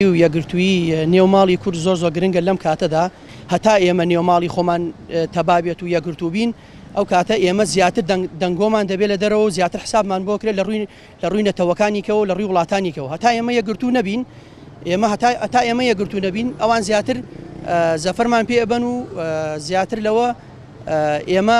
و یەکگرتوویی نێو ماڵی کورد زۆر زۆر گرنگە لەم کاتەدا هەتا ئێمە نێو ماڵی خۆمان تەبا بێت و یەکگرتوو بین ئەو کاتە ئێمە زیاتر دەنگۆمان دەبێت لە دەرەوە و زیاتر حسابمان بۆ کرێت لە ڕووی لە ڕووی نەتەوەکانیکەوە لە ڕووی وڵاتانیکەوە هەتا ئێمە یەکگرتوو نەبین ئێمە هەتا ئەتا ئێمە یەکگرتوو نەبین ئەوان زیاتر زەفەرمان پێ ئەبەن و زیاتر لەوە ئێمە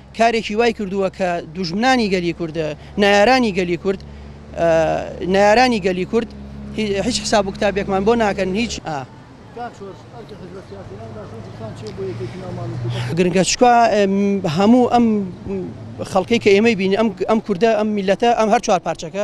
کارێکی وای کردووە کە دوژمنانی گەلی کورد نەیارانی گەلی کورد نەیارانی گەلی کورد هیچ حساب و کتابێکمان بۆ ناکەن هیچ ئا. گرنگە چکا هەموو ئەم خەڵکەی کە ئێمەی بینی ئەم کوردە ئەم میلەتە ئەم هەر چوار پارچەکە،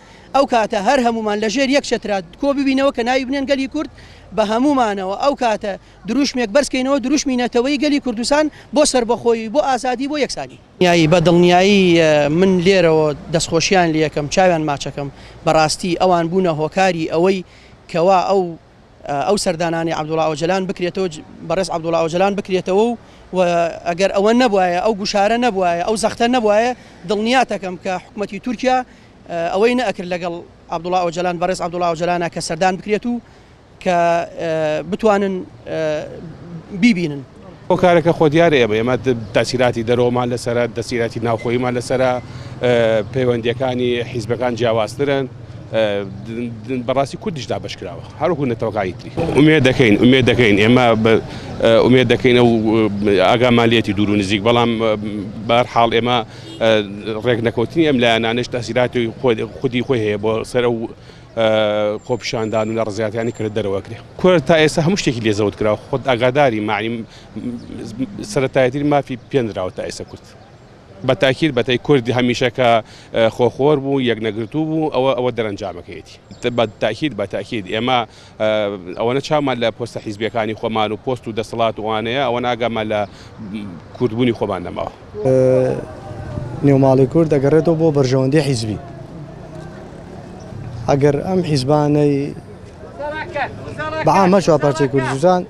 ئەو کاتە هەر هەموومان لە ژێر یەک چەترا کۆ ببینەوە کە ناوی بنێن گەلی کورد بە هەموومانەوە ئەو کاتە دروشمێک بەرز کەینەوە دروشمی نەتەوەی گەلی کوردستان بۆ سەربەخۆیی بۆ ئازادی بۆ یەکسانی. یایی بە دڵنیایی من لێرەوە دەستخۆشیان لێ ئەکەم چاویان ماچ ئەکەم بەڕاستی ئەوان بوونە هۆکاری ئەوەی کەوا ئەو. ئەو سەردانانەی عەبدوڵا ئۆجەلان بکرێتەوە بەڕێز عەبدوڵا ئۆجەلان بکرێتەوە و ئەگەر ئەوە نەبوایە ئەو گوشارە نەبوایە ئەو زەختە نەبوایە دڵنیاتەکەم کە حکوومەتتی تورکیا ئەوەی نەکرد لەگەڵ عەبدوڵا ئۆجەلان بەڕێز عەبدوڵا ئۆجەلانە کە سەردان بکرێت و کە بتوانن بیبینن. هۆکارەکە خۆ دیارە ئێمە ئێمە تاسیلاتی دەرەوەمان لەسرە دەسیلاتی ناوخۆیمان لەسرە پەیوەندیەکانی حیزبەکان جیاوازترن بەڕاستی کوردیش دابش کراوە هەروکو نەتەوەکانی تری ئومێ دەکەین ئومێ دەکەین ئێمە ئومێ دەکەینە و ئاگامالیەتی دوور و نزیک بەڵام بار حاڵ ئێمە ڕێک نەکەوتنی ئەم لایەنانش تاسیلاتی خودی خۆی هەیە بۆ سەر و خۆپیشاندان و ناڕەزایەتیانی کە لە دەرەوە کرێ کورد تا ئێستا هەموو شتێکی لێ زەوت کرا خۆت ئاگاداری معنی سەرەتایەتی مافی پێنراوە تا ئێستا کورد بە تاکیر بەتای کوردی هەمیشە کە خۆخۆر بوو یەک نەگرتوو بوو ئەوە ئەوە دەرەنجامەکەیەتی بە تاکیر بە تاکید ئێمە ئەوەنە چامان لە پۆستە حیزبەکانی خۆمان و پۆست و دەسەڵات وانەیە ئەوە ناگەمە لە کوردبوونی خۆمان نەماوە نێو ماڵی کورد دەگەڕێتەوە بۆ بەرژەوەندی حیزبی ئەگەر ئەم حیزبانەی بەعامە چوار پارچەی کوردستان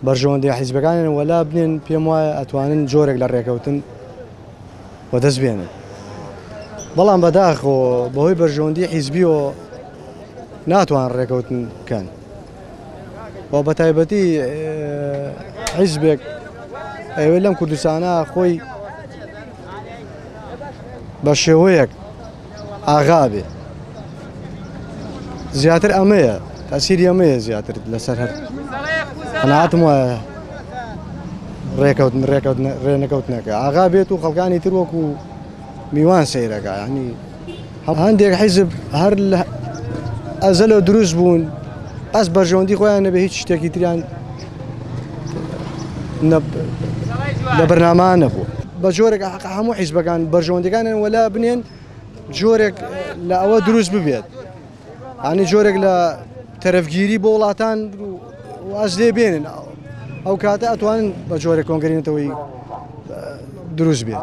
بەرژەوەندی حیزبەکانیان وەلا بنێن پێم وایە ئەتوانن جۆرێک لە ڕێکەوتن و دەست بێنن بەڵام بەداخۆ بەهۆی بەرژەوەندی حیزبیەوە ناتوان ڕێکەوتن بکەن و بەتایبەتی حیزبێک ئەوێ لەم کوردستانە خۆی بە شێوەیەک ئاغا بێ زیاتر ئەمەیە تاسیری ئەمەیە زیاتر لەسەر هەر قەناتم وایە ڕێکەوتن ڕێکەوت ڕێنەکەوتنەکە ئاغا بێت و خەڵکانی تر وەکو میوان سیرەکە ینی هەندێک حیزب هەر لە ئەزەلەوە دروست بوون ئەس بەرژەوەندی خۆیان نەبێ هیچ شتێکی تریان لە بەرناما نەبوو بە جۆرێک هەموو حیزبەکان بەرژەوەندەکانیان وەلا بنێن جۆرێک لە ئەوە دروست ببێت ئانی جۆرێک لە تەرەفگیری بۆ وڵاتان واز لێ بێنن ئەو کاتە ئەتوانن بە جۆرە کۆنگرینەتەوەی دروست بێت.